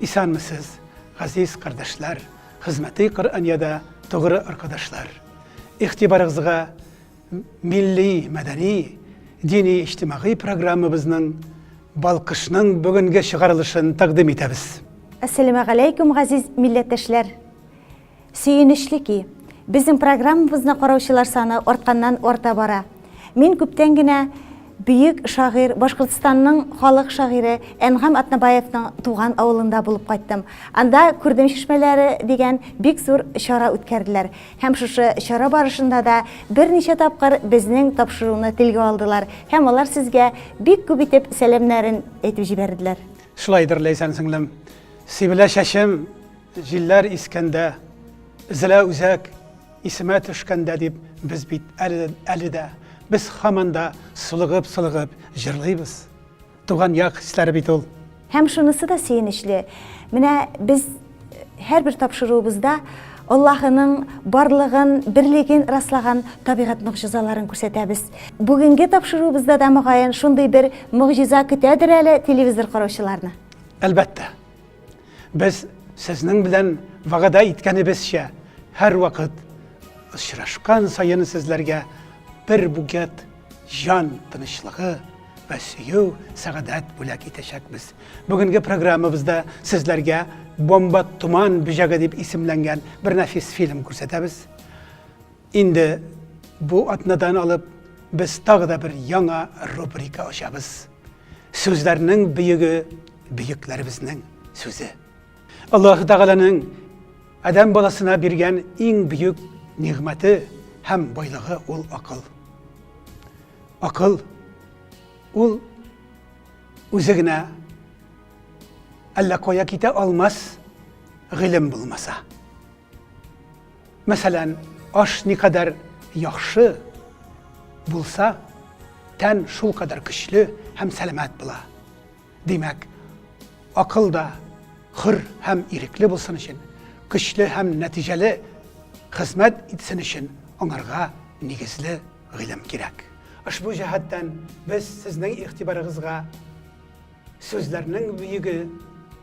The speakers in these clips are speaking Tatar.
Исәнмесез, газиз кардәшләр, хезмәти Коръәниядә тугры аркадашлар! Игътибарыгызга милли, мәдәни, дини-иҗтимагый программабызның Балкышның бүгенге чыгарылышын тәкъдим итәбез. Әссәләмәгаләйкүм, газиз милләттәшләр! Сөенечле ки, безнең программабызны караучылар саны артканнан-арта бара. Мин күптән генә бөек шагыйрь, Башкортстанның халык шагыйре Әнгам Атнабаевның туган авылында булып кайттым. Анда Күрдем чишмәләре дигән бик зур чара үткәрделәр. Һәм шушы чара барышында да берничә тапкыр безнең тапшыруны телгә алдылар һәм алар сезгә бик күп итеп сәламнәрен әйтеп җибәрделәр. Шулайдыр, Ләйсән сеңлем. Сибелә чәчем, Җилләр искәндә, Зелә үзәк исемә төшкәндә дип без бит әле, әле дә, без хаман да сулыгып-сулыгып җырлыйбыз. Туган як хисләре бит ул. Һәм шунысы да сөенечле, менә без һәрбер тапшыруыбызда Аллаһының барлыгын, берлеген раслаган табигать могҗизаларын күрсәтәбез. Бүгенге тапшыруыбызда да мөгаен шундый бер могҗиза көтәдер әле телевизор караучыларны. Әлбәттә, Без сезнең белән вәгъдә иткәнебезчә, һәрвакыт очрашкан саен сезләргә бер бугет җан тынычлыгы вә сөю, сәгадәт бүләк итәчәкбез. Бүгенге программабызда сезләргә Бомба туман бөҗәге дип исемләнгән бер нәфис фильм күрсәтәбез. Инде бу атнадан алып без тагы да бер яңа рубрика ачабыз. Сүзләрнең бөеге бөекләребезнең сүзе. Аллаһ Тәгаләнең адәм баласына биргән иң бөек нигъмәте һәм байлыгы ул акыл. Акыл ул үзе генә әллә кая китә алмас гыйлем булмаса. Мәсәлән, аш никадәр яхшы булса, тән шулкадәр көчле һәм сәламәт була. Димәк, акыл да хөр һәм ирекле булсын өчен, көчле һәм нәтиҗәле хезмәт итсен өчен аңарга нигезле гыйлем кирәк. Ошбу җәһәттән без сезнең игътибарыгызга Сүзләрнең бөеге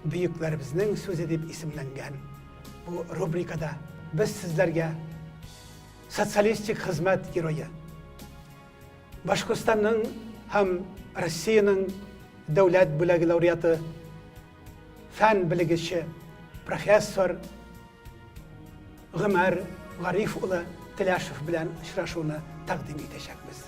бөекләребезнең сүзе дип исемләнгән бу рубрикада без сезләргә социалистик хезмәт герое Башкортстанның һәм Россиянең дәүләт бүләге лауреаты, фән белгече, профессор Гомәр Гариф улы Теләшев белән очрашуны тәкъдим итәчәкбез.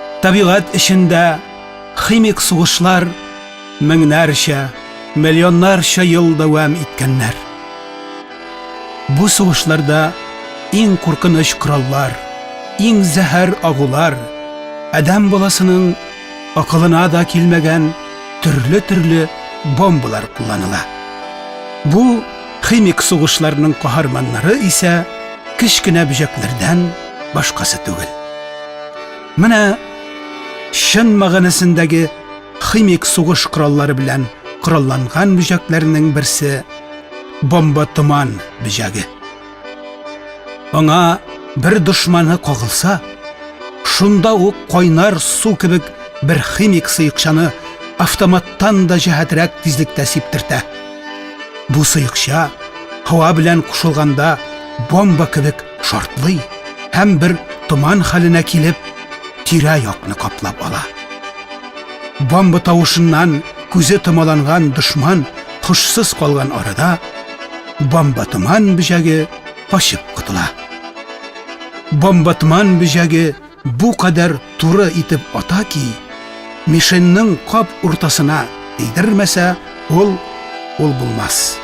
Табигать эчендә химик сугышлар меңнәрчә, миллионнарча ел дәвам иткәннәр. Бу сугышларда иң куркыныч кораллар, иң зәһәр агулар, адәм баласының акылына да килмәгән төрле-төрле бомбалар кулланыла. Бу химик сугышларның каһарманнары исә кечкенә бөҗәкләрдән башкасы түгел. Менә чын мәгънәсендәге химик сугыш кораллары белән коралланган бөҗәкләрнең берсе бомба томан бөҗәге. Аңа бер дошманы кагылса, шунда ук кайнар су кебек бер химик сыекчаны автоматтан да җәһәтрәк тизлектә сиптертә. Бу сыекча һава белән кушылганда бомба кебек шартлый һәм бер томан хәленә килеп, тирә-якны каплап ала. Бомба тавышыннан күзе томаланган дошман хушсыз калган арада, бомба томан бөҗәге качып котыла. Бомба томан бөҗәге Бу кадәр туры итеп ата ки, мишеньның кап уртасына тидермәсә, ул ул булмас.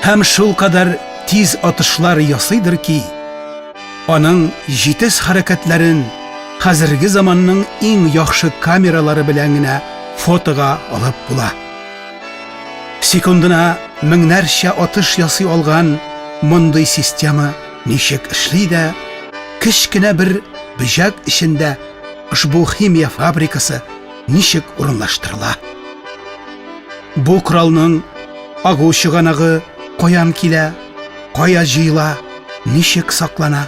Һәм шулкадәр тиз атышлар ясыйдыр ки, аның җитез хәрәкәтләрен хәзерге заманның иң яхшы камералары белән генә фотога алып була. Секундына меңнәрчә атыш ясый алган мондый система Ничек эшли дә, кечкенә бер бөҗәк эчендә ошбу химия фабрикасы ничек урынлаштырыла? Бу коралның агу чыганагы каян килә, кая җыела, ничек саклана?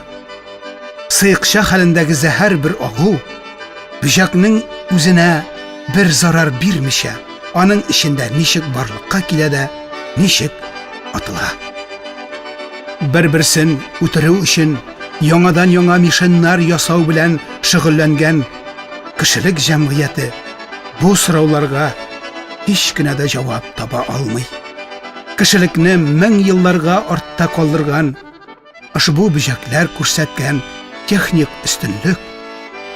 Сыекча хәлендәге зәһәр бер агу бөҗәкнең үзенә бер зарар бирмичә, Аның эчендә ничек барлыкка килә дә ничек атыла. Бер-берсен үтерү өчен яңадан-яңа мишеннар ясау белән шөгыльләнгән кешелек җәмгыяте бу сорауларга һич кенә дә җавап таба алмый. Кешелекне мең елларга артта калдырган Ошбу бөҗәкләр күрсәткән техник өстенлек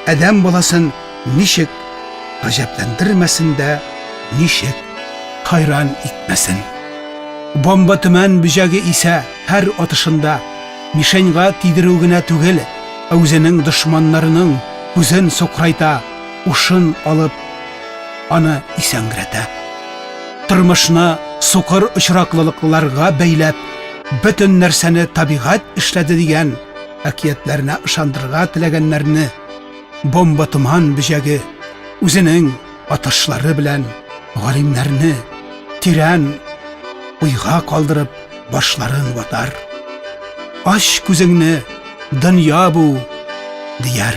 адәм баласын ничек гаҗәпләндермәсен дә, ничек хайран итмәсен. Бомба төмән бөҗәге исә һәр атышында мишеньга тидерү генә түгел, ә үзенең дошманнарының күзен сокрайта, ушын алып, аны исәнгрәтә. Тормышны сукыр очраклылыкларга бәйләп, бөтен нәрсәне табигать эшләде дигән әкиятләренә ышандырырга теләгәннәрне бомба томан бөҗәге үзенең атышлары белән галимнәрне тирән уйга калдырып башларын ватар. Ач күзеңне, дөнья бу, дияр.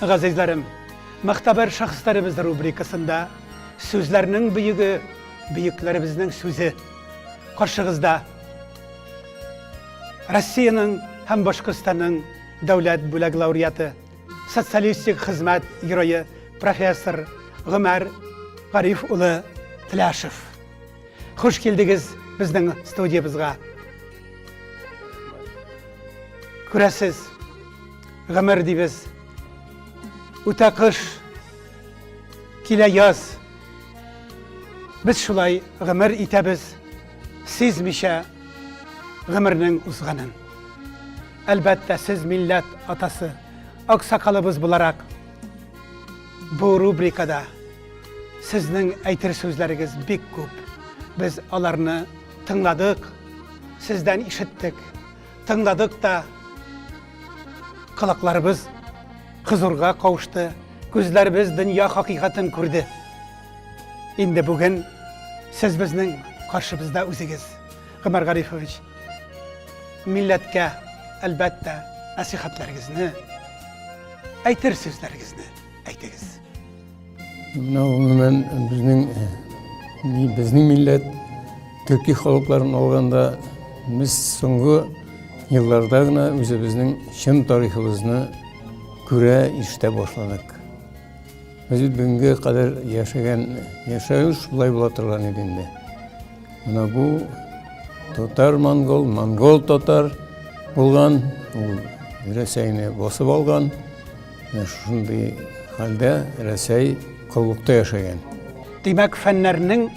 Газизләрем, Мөхтәбәр шәхесләребез рубрикасында Сүзләрнең бөеге, бөекләребезнең сүзе. Каршыгызда Россиянең һәм Башкортстанның дәүләт бүләк лауреаты, социалистик хезмәт герое профессор Гомәр Гариф улы Тляшев. Хуш килдегез безнең студиябезгә. Күрәсез, гомер дибез. Үтә кыш, килә яз. Без шулай гомер итәбез, сизмичә гомернең узганын. Әлбәттә, сез милләт атасы, аксакалыбыз буларак, бу рубрикада Сезнең әйтер сүзләрегез бик күп. Без аларны тыңладык, сездән ишеттек, тыңладык та. Колакларыбыз кызурга каушты, күзләребез дөнья хакыйкатын күрде. Инде бүген сез безнең каршыбызда үзегез, Гомәр Гарифович. Милләткә, әлбәттә, насихатларыгызны, әйтер сүзләрегезне. әйтегез. Менә гомумән безнең безнең милләт төрки халыкларын алганда без соңгы елларда гына үзебезнең чын тарихыбызны күрә иштә башладык без бүгенге кадәр яшәгән яшәү шулай була торган иде инде менә бу татар монгол монгол татар булган ул рәсәйне басып алган Менә шушындый хәлдә Рәсәй коллыкта яшәгән. Димәк, фәннәрнең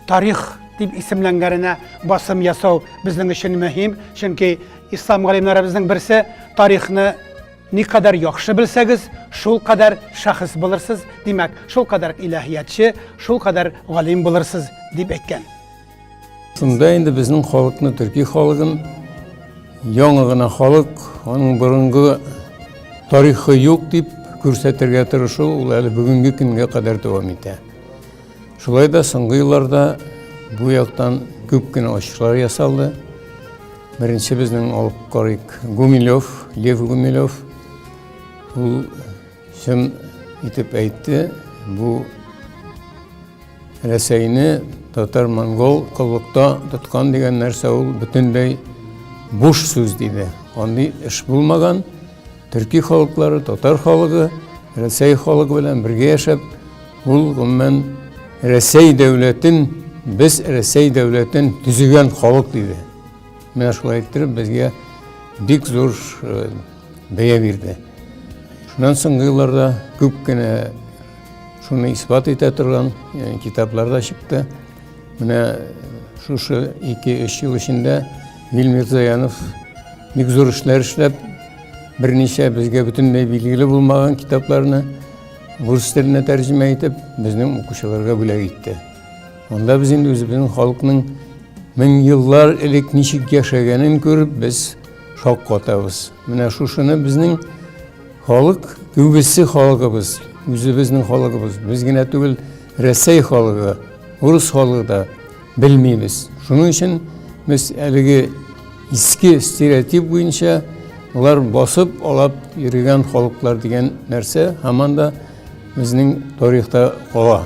тарих дип исемләнгәненә басым ясау безнең өчен мөһим, чөнки ислам галимнәребезнең берсе тарихны никадәр яхшы белсәгез, шул кадәр шәхес булырсыз, димәк, шул кадәр иләһиятче, шул кадәр галим булырсыз дип әйткән. Шунда инде безнең халыкны, төрки халыгын, яңа гына халык, аның борынгы тарихы юк дип күрсәтергә тырышу ул әле бүгенге көнгә кадәр дәвам итә. Шулай да соңгы елларда бу яктан күп кенә ачышлар ясалды. Беренче безнең алып карыйк Гумилев, Лев Гумилев. Ул Чын итеп әйтте, бу Рәсәйне татар-монгол коллыкта тоткан дигән нәрсә ул бөтенләй буш сүз диде. Андый эш булмаган. Төрки халыклары, татар халыгы, Рәсәй халыгы белән бергә яшәп, ул гомумән Рәсәй дәүләтен, без Рәсәй дәүләтен төзегән халык диде. Менә шулай иттереп безгә бик зур э, бәя бирде. Шуннан соңгы елларда күп кенә шуны исбат итә торган э, китаплар да чыкты. Менә шушы 2-3 ел эчендә Вил Мирзаянов бик зур эшләр эшләп, берничә безгә бөтенләй билгеле булмаган китапларны рус теленә тәрҗемә итеп, безнең укучыларга бүләк итте. Монда без инде үзебезнең халыкның мең еллар элек ничек яшәгәнен күреп, без шок катабыз. Менә шушыны безнең халык, күбесе халыгыбыз, үзебезнең халыгыбыз, без генә түгел, Рәсәй халыгы, урыс халыгы да белмибез. Шуның өчен без әлеге иске стереотип буенча алар басып алап йөргән халыклар дигән нәрсә һаман да безнең тарихта кала.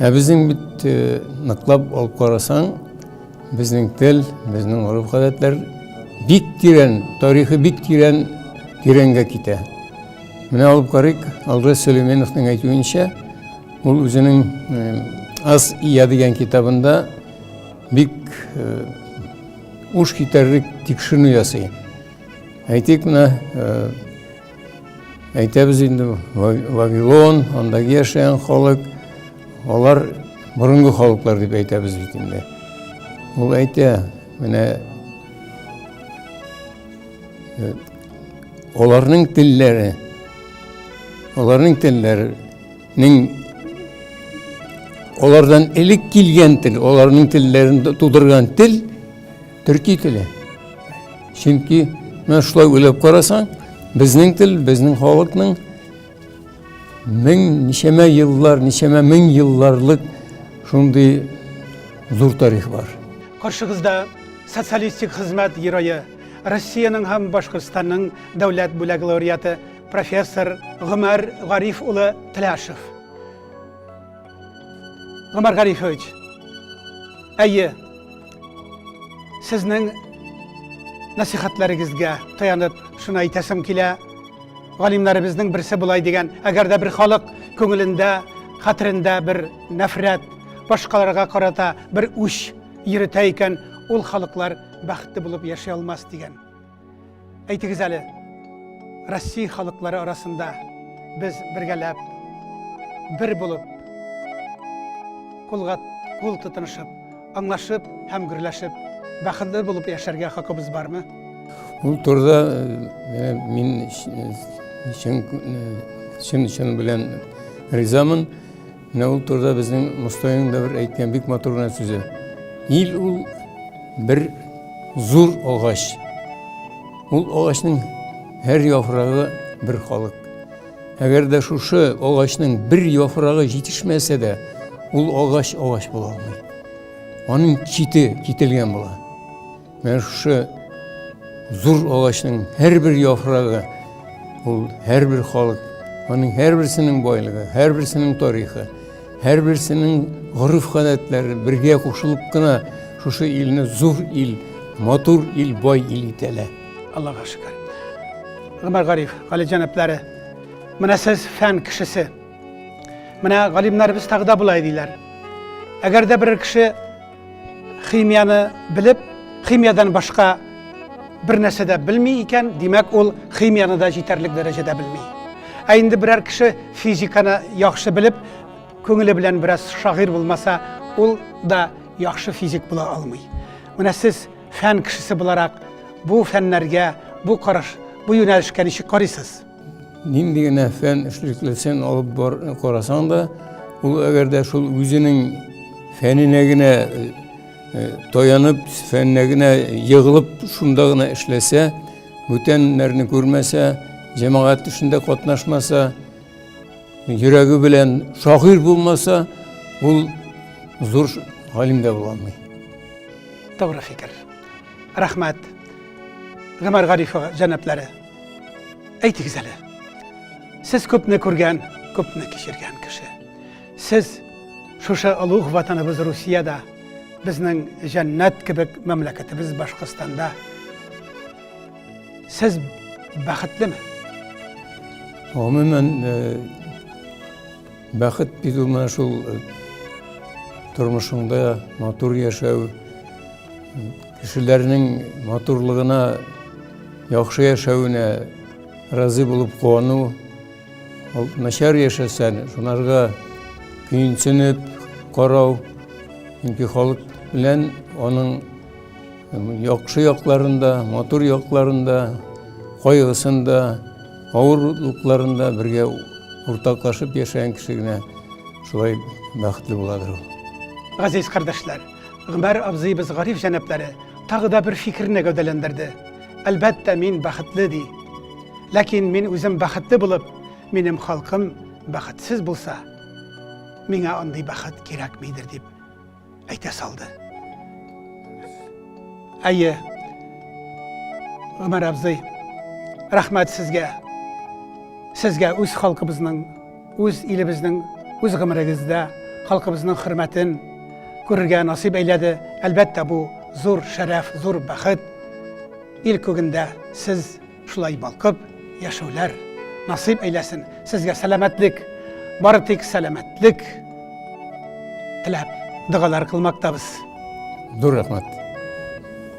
Ә безнең бит э, ныклап алып карасаң, безнең тел, безнең гореф-гадәтләр бик тирән, тарихы бик тирән, тирәнгә китә. Менә алып карыйк, Алгыз Сөлейменовның әйтүенчә, ул үзенең э, Аз ия дигән китабында бик э, уш китәрлек тикшеренү ясый. Әйтик, менә Әйтәбез инде, Вавилон, андагы яшәгән халык, алар борынгы халыклар дип әйтәбез бит инде. Ул әйтә, менә э, аларның телләре, аларның телләренең алардан элек килгән тел, аларның телләрен тудырган тел Төрки теле. Чөнки менә шулай уйлап карасаң, безнең тел, безнең халыкның мең ничәмә еллар, ничәмә мең елларлык шундый зур тарих бар. Каршыгызда социалистик хезмәт герое, Россиянең һәм Башкортстанның дәүләт бүләк лауреаты, профессор Гомәр Гариф улы Тляшев. Гомәр Гарифович, әйе, сезнең нәсихәтләрегезгә таянып шуны әйтәсем килә. Галимнәребезнең берсе болай дигән, әгәр дә бер халык күңелендә, хәтерендә бер нәфрәт, башкаларга карата бер үч йөртә икән, ул халыклар бәхетле булып яши алмас дигән. Әйтегез әле, Россия халыклары арасында без бергәләп, бер булып, кулга кул тотынышып, аңлашып һәм гөрләшеп, бәхетле булып яшәргә хакыбыз бармы? Ул турыда э, мин чын чын белән ризамын. Менә ул турыда безнең Мостайның да бер әйткән бик матур гына сүзе. Ил ул бер зур агач. Ул агачның һәр яфрагы бер халык. Әгәр дә шушы агачның бер яфрагы җитешмәсә дә, ул агач агач була алмый. Аның чите кителгән була. Менә шушы зур агачның һәрбер яфрагы, ул һәрбер халык, аның һәрберсенең байлыгы, һәрберсенең тарихы, һәрберсенең гореф-гадәтләре бергә кушылып кына шушы илне зур ил, матур ил, бай ил итәләр. Аллага шөкер. Гомәр Гариф, Гали җәнаплары, менә сез фән кешесе. Менә галимнәребез тагы да болай диләр. Әгәр дә берәр кеше Химияне белеп, химиядән башка бер нәрсә дә белми икән, димәк, ул химияны да җитәрлек дәрәҗәдә белми. Ә инде берәр кеше физиканы яхшы белеп, күңеле белән бераз шагыйрь булмаса, ул да яхшы физик була алмый. Менә сез фән кешесе буларак, бу фәннәргә, бу караш, бу юнәлешкә ничек карыйсыз? Нинди генә фән эшлеклесен алып бар карасаң да, ул әгәр дә шул үзенең фәненә генә э, э, таянып, фәненә генә егылып, шунда гына эшләсә, бүтәннәрне күрмәсә, җәмәгать эшендә катнашмаса, йөрәге белән шагыйрь булмаса, ул зур галим дә була алмый. Тугры фикер. Рәхмәт. Гомәр Гарифова җәнаплары. Әйтегез әле, сез күпне күргән, күпне кичергән кеше. Сез шушы олуг ватаныбыз Русиядә, безнең җәннәт кебек мәмләкәтебез Башкортстанда. Сез бәхетлеме? Гомумән, э, бәхет бит ул менә шул э, тормышыңда матур яшәү, кешеләрнең матурлыгына яхшы яшәвенә разый булып куану ул начар яшәсәң шунарга көенсенеп карау чөнки халык белән аның яхшы якларында матур якларында кайгысында авырлыкларында бергә уртаклашып яшәгән кеше генә шулай бәхетле буладыр ул Газиз кардәшләр! Гомәр абзыебыз Гариф җәнаплары тагы да бер фикерне гәүдәләндерде. Әлбәттә, мин бәхетле, ди. Ләкин мин үзем бәхетле булып, минем халкым бәхетсез булса, миңа андый бәхет кирәкмидер, дип әйтә салды. Әйе, Гомәр абзый, рәхмәт сезгә. Сезгә үз халкыбызның Үз илебезнең, үз гомерегездә халкыбызның хөрмәтен күрергә насыйп әйләде. Әлбәттә, бу зур шәрәф, зур бәхет. Ил күгендә сез шулай балкып яшәүләр насыйп әйләсен. Сезгә сәламәтлек, бары тик сәламәтлек теләп, догалар кылмактабыз. Зур рәхмәт.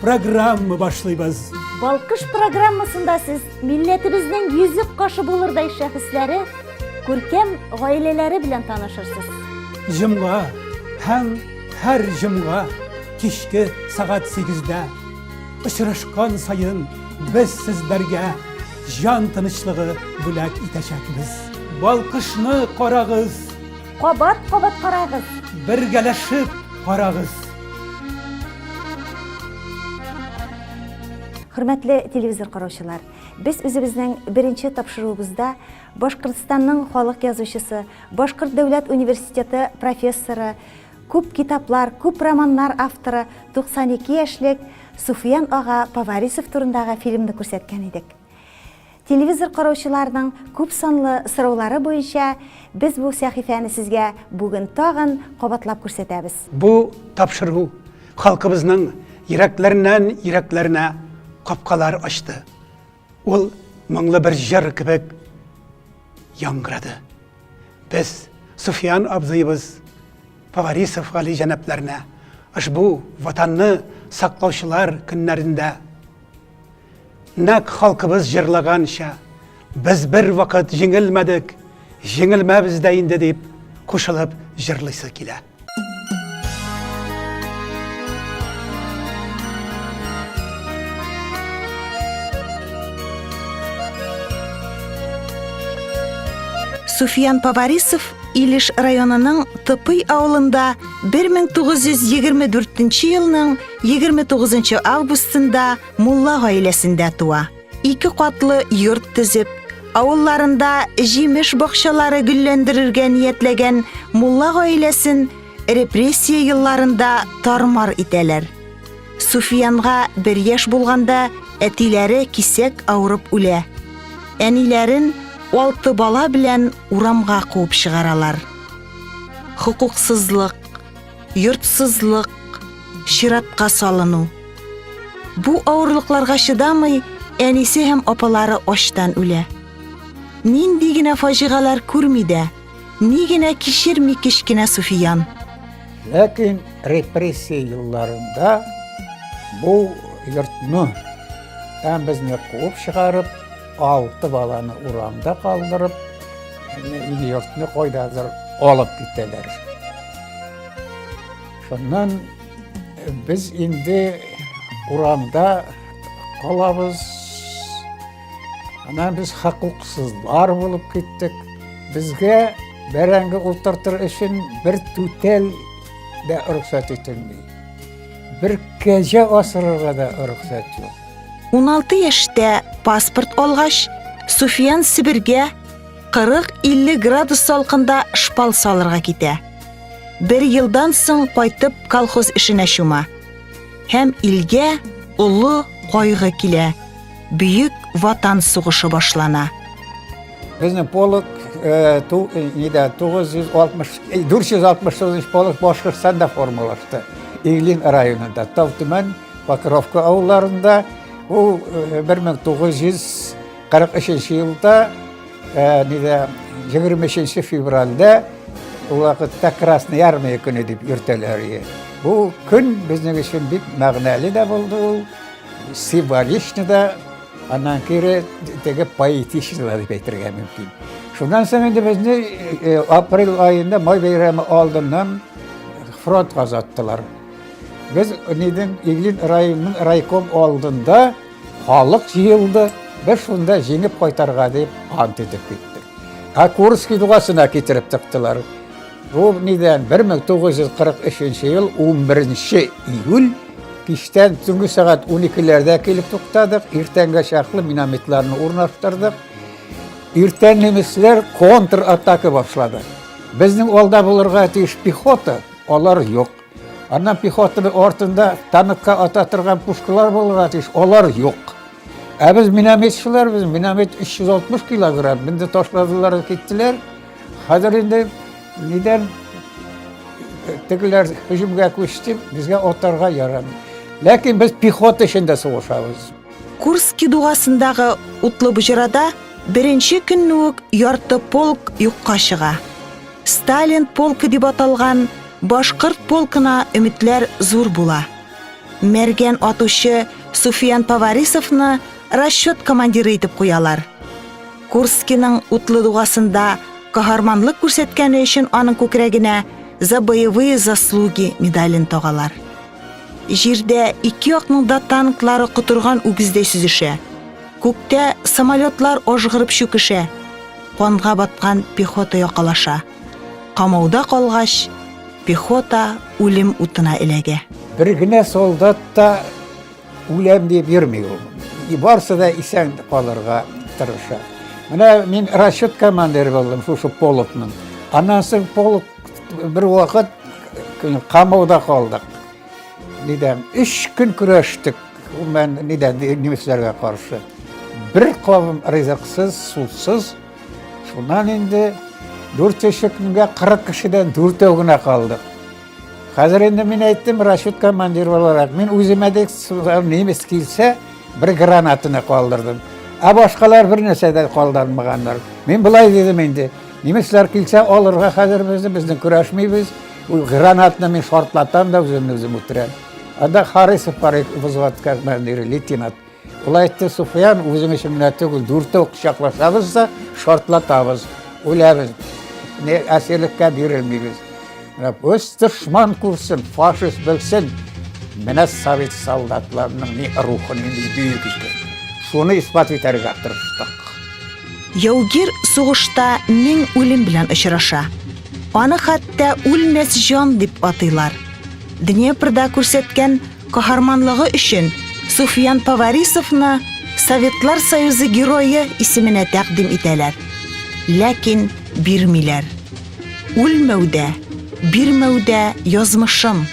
программа башлыйбыз. Балкыш программасында сез милләтебезнең йөзек кашы булырдай шәхесләре, күркәм гаиләләре белән танышырсыз. Җомга һәм һәр җомга кичке сәгать 8-дә очрашкан саен без сезләргә җан тынычлыгы бүләк итәчәкбез. Балкышны карагыз! Кабат-кабат карагыз. Бергәләшеп карагыз. Хөрмәтле телевизор караучылар, без үзебезнең беренче тапшыруыбызда Башкортстанның халык язучысы, Башкорт дәүләт университеты профессоры, күп китаплар, күп романнар авторы 92 яшьлек Суфиян ага Поварисов турындагы фильмны күрсәткән идек. Телевизор караучыларның күпсанлы сораулары буенча без бу сәхифәне сезгә бүген тагын кабатлап күрсәтәбез. Бу тапшыру халкыбызның йөрәкләреннән йөрәкләренә капкалар ачты. Ул моңлы бер җыр кебек яңгырады. Без Суфиян абзыебыз Поварисов Гали җәнапләренә ошбу Ватанны саклаучылар көннәрендә, Нәкъ халкыбыз җырлаганча, без бервакыт җиңелмәдек, җиңелмәбез дә инде дип кушылып җырлыйсы килә. Суфиян Поварисов Илеш районының Тыпый авылында 1924 елның 29 августында мулла гаиләсендә туа. Ике катлы йорт төзеп, авылларында җимеш бакчалары гөлләндерергә ниятләгән мулла гаиләсен репрессия елларында тармар итәләр. Суфиянга бер яшь булганда әтиләре кисәк авырып үлә. Әниләрен алты бала белән урамга куып чыгаралар. Хокуксызлык, йортсызлык, чиратка салыну. Бу авырлыкларга чыдамый, әнисе һәм апалары ачтан үлә. Нинди генә фаҗигалар күрми дә, ни генә кичерми кечкенә Суфиян. Ләкин репрессия елларында бу йортны һәм безне куып чыгарып, Алты баланы урамда калдырып, ил-йортны кайдадыр алып китәләр. Шуннан без инде урамда калабыз. Аннан без хокуксызлар булып киттек. Безгә бәрәңге ултыртыр өчен бер түтәл дә рөхсәт ителми. Бер кәҗә асырырга да рөхсәт юк. 16 яшьтә паспорт алгач, Суфиян Себергә 40-50 градус салкында шпал салырга китә. Бер елдан соң кайтып колхоз эшенә чума. Һәм илгә олы кайгы килә. Бөек ватан сугышы башлана. Безнең полк 469 полк Башкортстанда формалашты. Иглин районында, Тавтүмән Покровка авылларында ул 1943 елда нидә 23 февральдә ул вакытта Красная армия көне дип йөртәләр иде. Бу көн безнең өчен бик мәгънәле дә булды ул, символичны да, аннан кире теге поэтичны да дип әйтергә мөмкин. Шуннан соң инде безне э, э, апрель айында май бәйрәме алдыннан фронт казаттылар. Без нидән Иглин районының райком алдында халык җыелды, без шунда җиңеп кайтарга дип ант итеп киттек. Ә Курский дугасына китереп тыктылар. Бу нидән 1943 ел 11 июль киштән түнге сәгать 12-ләрдә килеп туктадык, иртәнгә чаклы минометларны урнаштырдык. Иртән немецләр контратака башлады. Безнең алда булырга тиеш пехота, алар юк. Аннан пехотаны артында танкка ата торган пушкалар булырга тиеш, алар юк. Ә без минометчылар, без миномет 360 килограмм, менде ташладылар, киттеләр. Хәзер инде нидән тегеләр һөҗүмгә күчте, безгә атарга ярамый. Ләкин без пехота эчендә сугышабыз. Курский дугасындагы утлы боҗрада беренче көнне үк ярты полк юкка чыга. Сталин полкы дип аталган башкорт полкына өметләр зур була. Мәргән атучы Суфиян Поварисовны расчет командиры итеп куялар. Курскиның утлы дугасында каһарманлык күрсәткәне өчен аның күкрәгенә за боевые заслуги медален тагалар. Җирдә ике якның да танклары котырган үгездәй сүзешә. Күктә самолетлар ажгырып чүкешә. Канга баткан пехота якалаша. Камауда калгач, пехота үлем утына эләгә. Бер генә солдат та үләм дип йөрми ул. Барсы да исән калырга тырыша. Менә мин расчет командиры булдым шушы полкның. Аннан соң полк бервакыт камауда калдык. Нидән? Өч көн көрәштек. Мен нидән немецләргә каршы. Бер кавым ризыксыз, сусыз. Шуннан инде дүрт көнгә 40 кешедән дүртәү генә калдык. Хәзер инде мин әйттем, расчет командир буларак, мин үземә дә немец килсә, бер гранатаны калдырдым. Ә башкалар бер нәрсә дә калдырмаганнар. Мин былай дидем инде, Немецлар килсә, алырга хәзер безне, безне көрәшмибез. Ул гранатны мин шартлатам да үземне үзем үтерәм. Анда Харисов бар взводка командиры, лейтенант. Ул әйтте, Суфиян, үзең өчен генә түгел, дүртәү кочаклашабыз да шартлатабыз, үләбез. Не әсирлеккә бирелмибез. Менә үз дошман күрсен, фашист белсен. Менә совет солдатларының ни рухы, ни бөек икән. Шуны исбат итәргә тырыштык. Яугир сугышта мең үлем белән очраша. Аны хәтта үлмәс җан дип атыйлар. Днепрда күрсәткән каһарманлыгы өчен Суфиян Поварисовны Советлар Союзы герое исеменә тәкъдим итәләр. Ләкин бирмиләр. Үлмәүдә, бирмәүдә язмышым.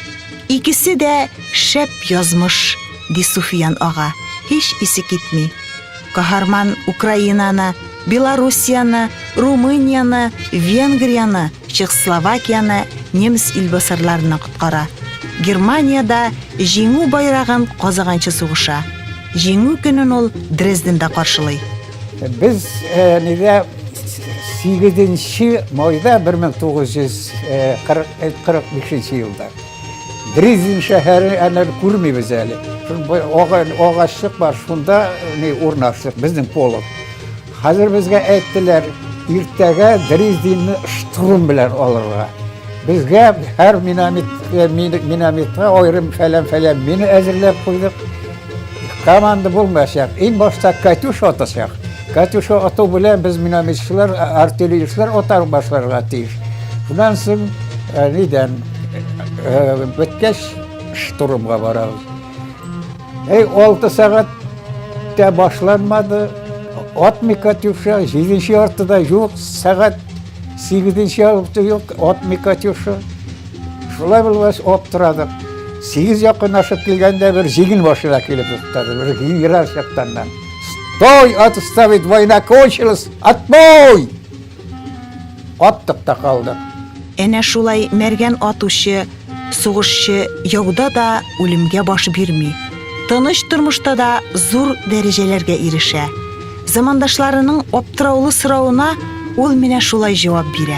Икесе дә шәп язмыш, ди Суфиян ага, һич исе китми. Каһарман Украинаны, Белоруссияне, Румынияне, Венгрияне, Чехословакияне немец илбасарларыннан коткара. Германиядә җиңү байрагын казаганчы сугыша. Җиңү көнен ул Дрезденда каршылый. Без нигә 8 майда 1945 елда Дрезин шәһәре әнә күрмибез әле. Агачлык бар, шунда не урнаштык безнең полк. Хәзер безгә әйттеләр, иртәгә Дрезинны штурм белән алырга. Безгә һәр минометка аерым фәлән-фәлән мина әзерләп куйдык. Команда булмаса, ин башта Катюш атасак. Катюш ату белән без минометчылар, артиллеристлар атар башларга тиеш. Шуннан соң нидән беткәч штурмга барабыз. Эй, 6 сәгать тә башланмады. Атмый Катюша, 7-нче артыда юк, сәгать 8-нче артыда юк, атмый Катюша. Шулай булгач, аптырадык. Сигез якынлашып килгәндә бер җигел машина килеп туктады. Бер генерал чактаннан. Стой, отставить, война кончилась, отбой! Аттык та калдык. Әнә шулай мәргән атучы, сугышчы яуда да үлемгә баш бирми. Тыныч тормышта да зур дәрәҗәләргә ирешә. Замандашларының аптыраулы соравына ул менә шулай җавап бирә.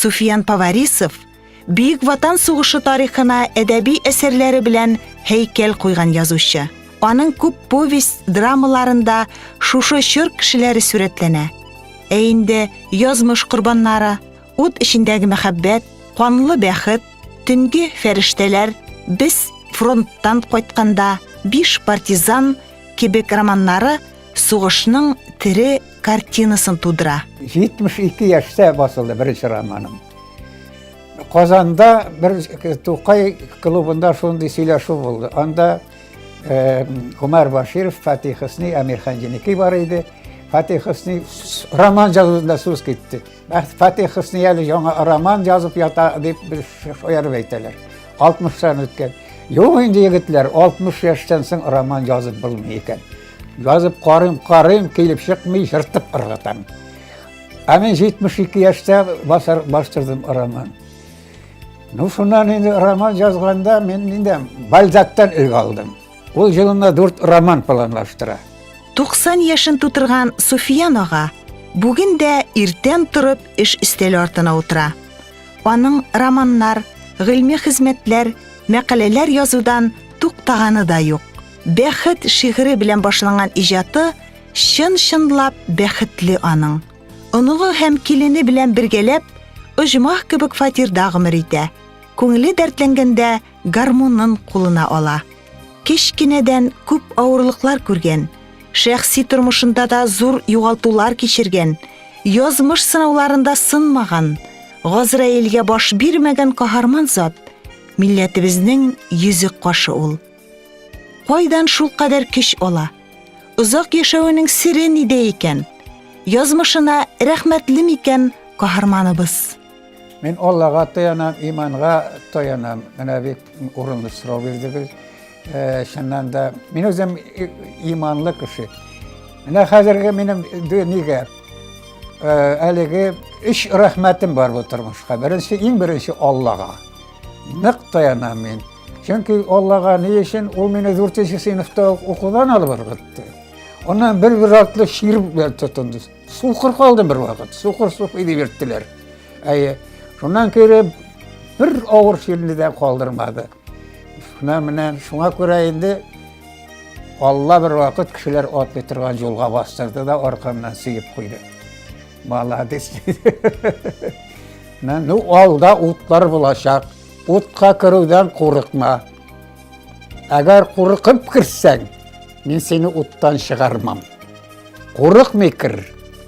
Суфиян Поварисов Бөек Ватан сугышы тарихына әдәби әсәрләре белән һәйкәл куйган язучы. Аның күп повесть драмаларында шушы чор кешеләре сурәтләнә. Ә инде язмыш корбаннары, ут эчендәге мәхәббәт, канлы бәхет, төнге фәрештәләр, без фронттан кайтканда, биш партизан кебек романнары сугышның тере картинасын тудыра. 72 яшьтә басылды беренче романым. Казанда бер Тукай клубында шундый сөйләшү булды. Анда э, Умар Баширов, Фатих Хөсни, Амир Ханҗиники бар иде. Фатих Хөсни роман язуында сүз китте. Фатих Хөсни әле яңа роман язып ята дип бер шаярып әйтәләр. 60-тан үткән. Юк инде егетләр, 60 яшьтән соң роман язып булмый икән. Язып карыйм, карыйм, килеп чыкмый, жыртып ыргытам. Ә мен 72 яшьтә басар бастырдым роман. Ну, шуннан инде роман язганда мен инде Бальзактан үлгә алдым. Ул җылына дүрт роман планлаштыра. 90 яшен тутырган Суфиян ага бүген дә иртән торып эш өстәле артына утыра. Аның романнар, гыйльми хезмәтләр, мәкаләләр язудан туктаганы да юк. Бәхет шигыре белән башланган иҗаты чын-чынлап бәхетле аның. Оныгы һәм килене белән бергәләп оҗмах кебек фатирда гомер итә. Күңеле дәртләнгәндә гармунын кулына ала. Кечкенәдән күп авырлыклар күргән, шәхси тормышында да зур югалтулар кичергән, язмыш сынауларында сынмаган, Газраилгә баш бирмәгән каһарман зат милләтебезнең йөзек кашы ул. Кайдан шулкадәр көч ала? Озак яшәвенең сере нидә икән? Язмышына рәхмәтле микән каһарманыбыз? Мин Аллага таянам, иманга таянам. Менә бик урынлы сорау бирдегез. Э, чыннан да, мин үзем иманлы кеше. Менә хәзерге минем нигә э, әлеге өч рәхмәтем бар бу тормышка. Беренче, иң беренче Аллага. Нык таянам мин. Чөнки Аллага ни өчен ул мине 4 нче сыйныфта укудан алып ыргытты. Аннан бер бер артлы шир белән тотынды. Сукыр калдым бер вакыт. Сукыр сук иде бирттеләр. Әйе. Шуннан кереп бер авыр ширне дә калдырмады. Шуна менә шуңа күрә инде Алла бер вакыт кешеләр атлый торган юлга бастырды да аркамнан сөеп куйды. Молодец. Менә ну алда утлар булачак. Утка керүдән курыкма. Әгәр курыкып керсәң, мин сине уттан чыгармам. Курыкмый кер.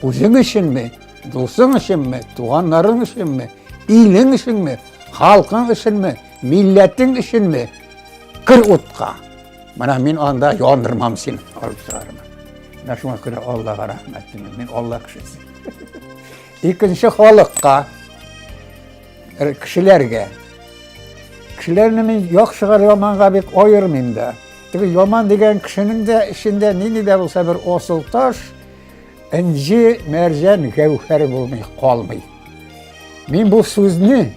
Үзең өченме, дусың өченме, туганнарың өченме, илең өченме, халкың өченме, милләтең өченме? Кер утка. Менә мин анда яндырмам сине, алып чыгармын. Менә шуңа күрә Аллага рәхмәт. Мин Алла кешесе. Икенче халыкка Кешеләргә. Кешеләрне мин яхшыга яманга бик аермыйм да. Теге яман дигән кешенең дә эчендә нинди дә булса бер асыл таш, инҗи, мәрҗән, гәүһәр булмый калмый. Мин бу сүзне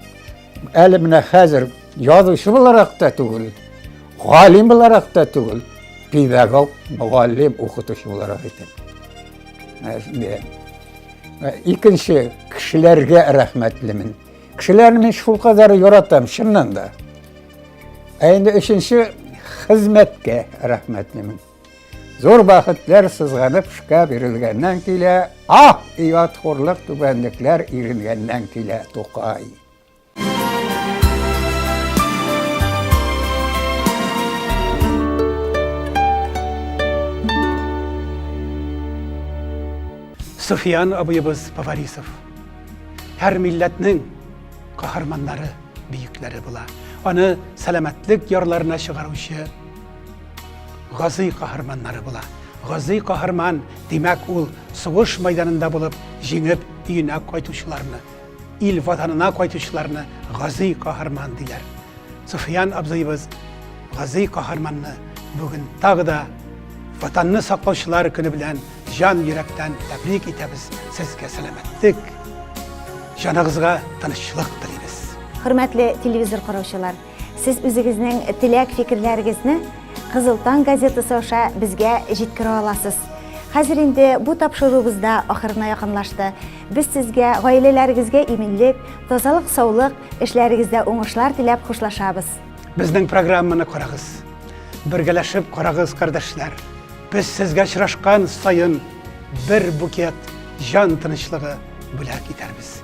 әле менә хәзер язучы буларак та түгел, галим буларак та түгел, педагог, мөгаллим, укытучы буларак әйтәм. Икенче кешеләргә рәхмәтлемен. Кешеләрне мин шулкадәр яратам, чыннан да. Ә инде өченче хезмәткә рәхмәтлемен. Зур бәхетләр сызганып шка бирелгәннән килә, ах, ият хурлык түбәнлекләр иренгәннән килә, Тукай. Суфиян абыебыз Поварисов. Һәр милләтнең каһарманнары, бөекләре була. Аны сәламәтлек ярларына чыгаручы газый каһарманнары була. Газый каһарман, димәк, ул сугыш майданында булып, җиңеп, өенә кайтучыларны Ил ватанына кайтучыларны гази каһарман диләр. Суфиян абзыебыз гази каһарманны бүген тагы да ватанны саклаучылар көне белән җан йөрәктән тәбрик итәбез. Сезгә сәламәтлек, җаныгызга тынычлык телибез. Хөрмәтле телевизор караучылар, Сез үзегезнең теләк-фикерләрегезне Кызыл таң газетасы аша безгә җиткерә аласыз. Хәзер инде бу тапшыруыбыз да ахырына якынлашты. Без сезгә, гаиләләрегезгә иминлек, тазалык, саулык, эшләрегездә уңышлар теләп хушлашабыз. Безнең программаны карагыз. Бергәләшеп карагыз, кардәшләр. Без сезгә очрашкан саен бер букет җан тынычлыгы бүләк итәрбез.